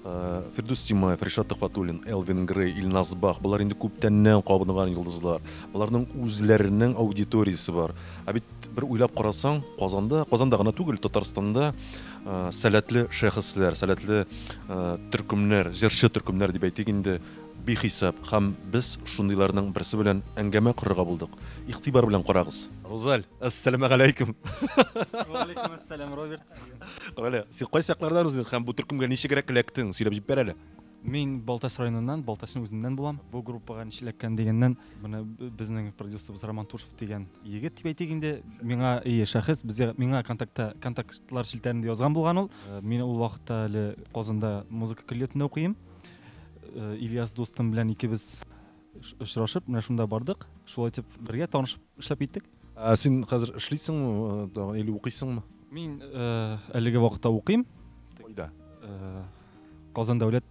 Фирдүс Тимаев, Ришат Төхвәтуллин, Элвин Грей, Илназ Бах, болар инде күптәннән кабынган йолдызлар. Боларның үзләренең аудиториясе бар. Ә бит бер уйлап карасаң, Казанда, Казанда гына түгел, Татарстанда сәләтле шәхесләр, сәләтле төркемнәр, җырчы төркемнәр дип әйтик инде, бихисап. Һәм без шундыйларның берсе белән әңгәмә корырга булдык. Игътибар белән карагыз. Рузаль, әссәламәгаләйкүм! Вәгаләйкүмәссәлам, Роберт. Галя, син кайсы яклардан үзең һәм бу төркемгә ничегрәк эләктең? Сөйләп җиб бер әле. Мин Балтач районыннан, Балтачның үзеннән булам. Бу группага ничек эләккән дигәннән, менә безнең продюсерыбыз Роман Тушев дигән егет дип әйтик инде, миңа ие шәхес, безгә миңа контактта контактлар челтәрендә язган булган ул. Э, мин ул вакытта әле Казанда музыка көллиятендә укыйм. Э, Ильяс дустым белән икебез очрашып, менә шунда бардык. Шулай итеп бергә танышып эшләп киттек. Ә син хәзер эшлисеңме тагын или укыйсыңмы? Мин әлеге вакытта укыйм. Кайда? Казан дәүләт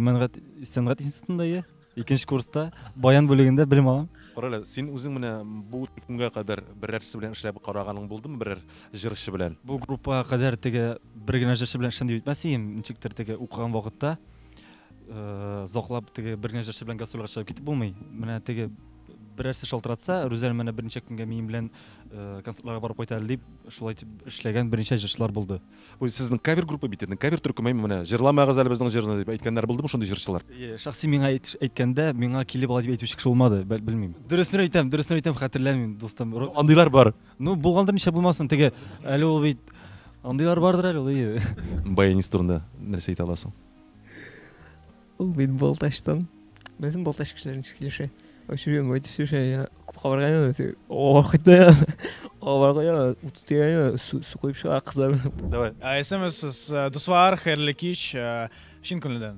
мәнгать сәнгать институтында я икенче курста баян бүлегендә белем алам. Карале, син үзең менә бу көнгә кадәр берәрсе белән эшләп караганың булдымы берәр җырчы белән? Бу группага кадәр теге бер генә җырчы белән эшләдем дип әйтмәс идем, ничектер теге укыган вакытта э, заклап теге бер генә җырчы белән гастрольгә чыгып китеп булмый менә теге берәрсе шалтыратса рүзәл менә берничә көнгә минем белән э, концертларга барып кайта әле дип шулай итеп эшләгән берничә җырчылар булды Ой, сезнең кавер группа бит инде кавер төркеме менә җырламагыз әле безнең җырны дип әйткәннәр булдымы шундый җырчылар Э, шәхси миңа әйт- әйткәндә миңа килеп ала дип әйтүче кеше булмады бәл- белмим дөресен әйтәм дөресен әйтәм хәтерләмим дустым Ру- андыйлар бар Ну, булгандыр, нишләп булмасын, теге, әле ул бит, андыйлар бардыр әле ул, ие. Баянист турында нәрсә әйтә аласың? Ул бит Балтачтан. Безнең Балтач кешеләре ничек сөйләшә? Очуя, мой төшә, я күп кабарган, охта, аварга, утыя, су куеп чыга кызлар. Давай. Исемсез, дуслар, хәерле кич, чын күңелдән.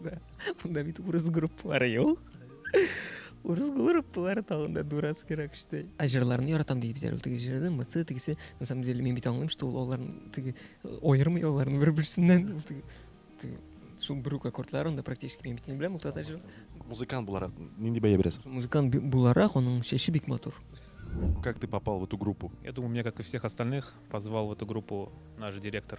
Да. Монда бит урыс группалары юк. Урыс группалары тагын да дурацкий рак штей. Ә җырларны яратам дип бит әле теге җырны, мыцы тегесе. На самом деле мин бит аңлыйм, что ул аларны теге аермый аларны бер-берсеннән. Ул теге теге шул бер үк аккордларын да практически мин бит не беләм, ул тата җыр. Музыкант буларак нинди бәя бирәсең? Музыкант би- буларак аның чәче бик матур. Как ты попал в эту группу? Я думаю, меня, как и всех остальных, позвал в эту группу наш директор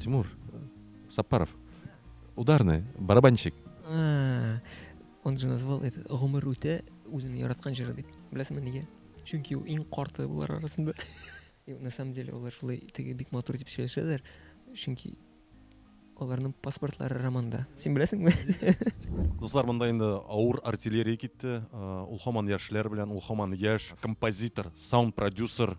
Тимур Сапаров. Ударный, барабанщик. А, он же назвал это Гомер Рутя Узин Яраткан Жирады. Блясма Ниге. Чунки у Ин Корты был арасында. И на самом деле олар шулай теге бик матур дип сөйләшәләр. Чөнки аларның паспортлары романда. Син беләсеңме? Дуслар, монда инде авыр артиллерия китте. Ул хаман яшьләр белән, ул хаман яшь композитор, саунд продюсер,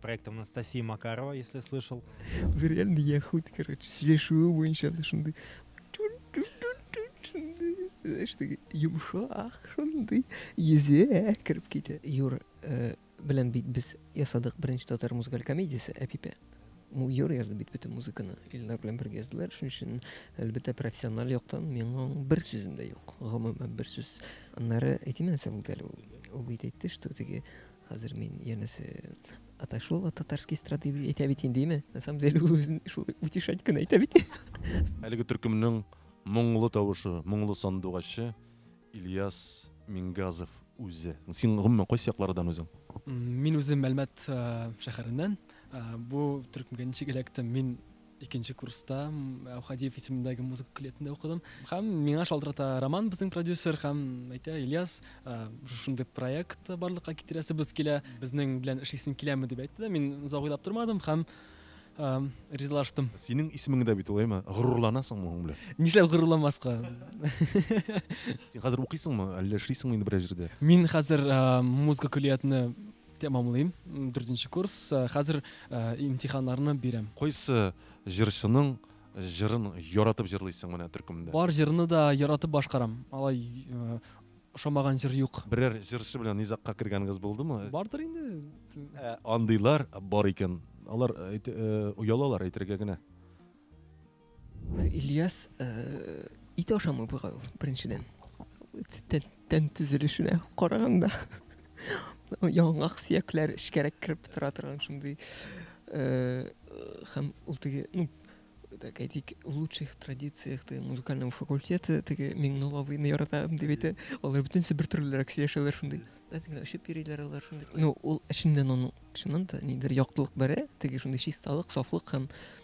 Проект Анастасии Макарова, если слышал. Уже реально я хуй, короче, слежу его еще шунды. Знаешь, ты юмшах шунды. Езе, крепките. Юра, э, белән бит без ясадык беренче татар музыкаль комедиясе Әпипә. Ну, Юра язды бит бөтен музыканы. Илнар белән бергә яздылар. Шуның өчен, әлбәттә, профессиональ яктан миңа бер сүзем дә юк. Гомумән бер сүз. Аннары әйтимән соң әле ул. Ул бит әйтте, что теге Хәзер мин янәсе отошел от татарской эстрады дип әйтә бит инде, име? На самом деле үзен шул утешать кенә әйтә бит. Әлеге төркемнең моңлы тавышы, моңлы сандугачы Ильяс Мингазов үзе. Син гомумән кайсы яклардан үзең? Мин үзем Әлмәт э, шәһәреннән. Э, бу төркемгә ничек эләктем? Мин Икенче курста Әүхәдиев исемендәге музыка көллиятендә укыдым. Һәм миңа шалтырата Роман безнең продюсер һәм әйтә, Ильяс, шушындый проект барлыкка китерәсебез килә, безнең белән эшлисең киләме дип әйтте дә, мин озак уйлап тормадым һәм ризалаштым. Синең исемең дә бит ул, әйме? Горурланасыңмы моның белән? Нишләп горурланмаска? Син хәзер укыйсыңмы, әллә эшлисеңме инде берәр җирдә? Мин хәзер музыка көллиятенә Тәмамлыйм, дүртенче курс, хәзер имтиханнарны бирәм. Кайсы җырчының җырын яратып җырлыйсың менә төркемдә? Бар җырны да яратып башкарам, алай ошамаган җыр юк. Берәр җырчы белән низагка кергәнегез булдымы? Бардыр инде. Андыйлар бар икән, алар оялалар әйтергә генә. Ильяс ит ашамый бугай ул, беренчедән. Тән төзелешенә караганда. Яңак сөякләр эчкәрәк кереп тора торган шундый һәм ул теге, ну, так әйтик, в лучших традициях теге музыкального факультета теге Миңнулловыйны яратам дип әйтә. Алар бөтенесе бер төрлерәк сөйләшәләр шундый. Без генә очып йөриләр алар шундый. Ну, ул эченнән аның чыннан да нидер яктылык бәрә, теге шундый чисталык, сафлык һәм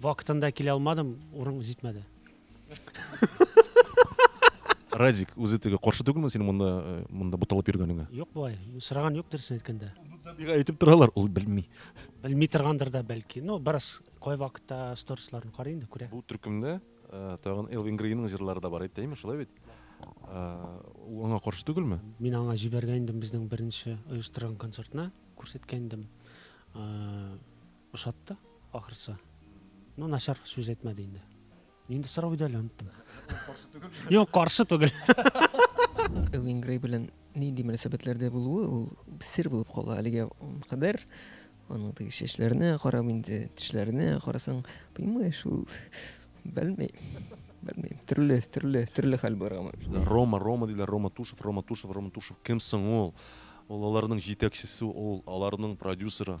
Вакытында килә алмадым, урын җитмәде. Радик, үзе теге каршы түгелме синең монда, э, монда буталып йөргәнеңә? Юк бугай, сораган юк дөресен әйткәндә. Бигә әйтеп торалар, ул белми. Белми торгандыр да бәлки. Ну, бераз кай вакытта сторисларын карый инде, күрә. Бу төркемдә э, тагын Элвин Грейның җырлары да бар, әйттәйме, шулай бит? Э, ул аңа каршы түгелме? Мин аңа җибәргән идем безнең беренче оештырган концертны, күрсәткән идем. Э, Ошатты, ахрысы. Ну, начар сүз әйтмәде инде. Нинди сорау иде әле оныттым. Каршы түгел. Юк, каршы түгел. Элвин Грей белән нинди мөнәсәбәтләрдә булуы ул сер булып кала әлегә кадәр. Аның теге чәчләренә карап инде, тешләренә карасаң, понимаешь, ул белмей. Белмей. Төрле, төрле, төрле хәл бар аңа. Рома, Рома диләр, Рома Тушев, Рома Тушев, Рома Тушев. Кем соң ул? Ул аларның җитәкчесе, ул аларның продюсеры.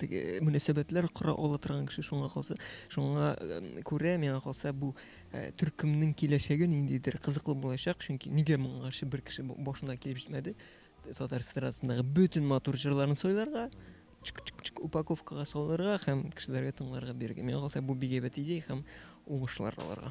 теге мөнәсәбәтләр кора ала торган кеше шуңа калса шуңа күрә миңа калса бу э, төркемнең киләчәге ниндидер кызыклы булачак чөнки нигә моңа каршы бер кеше башына килеп җитмәде татар эстрадасындагы бөтен матур җырларын сайларга чик чик чик упаковкага салырга һәм кешеләргә тыңларга бирергә миңа калса бу бик әйбәт идея һәм уңышлар аларга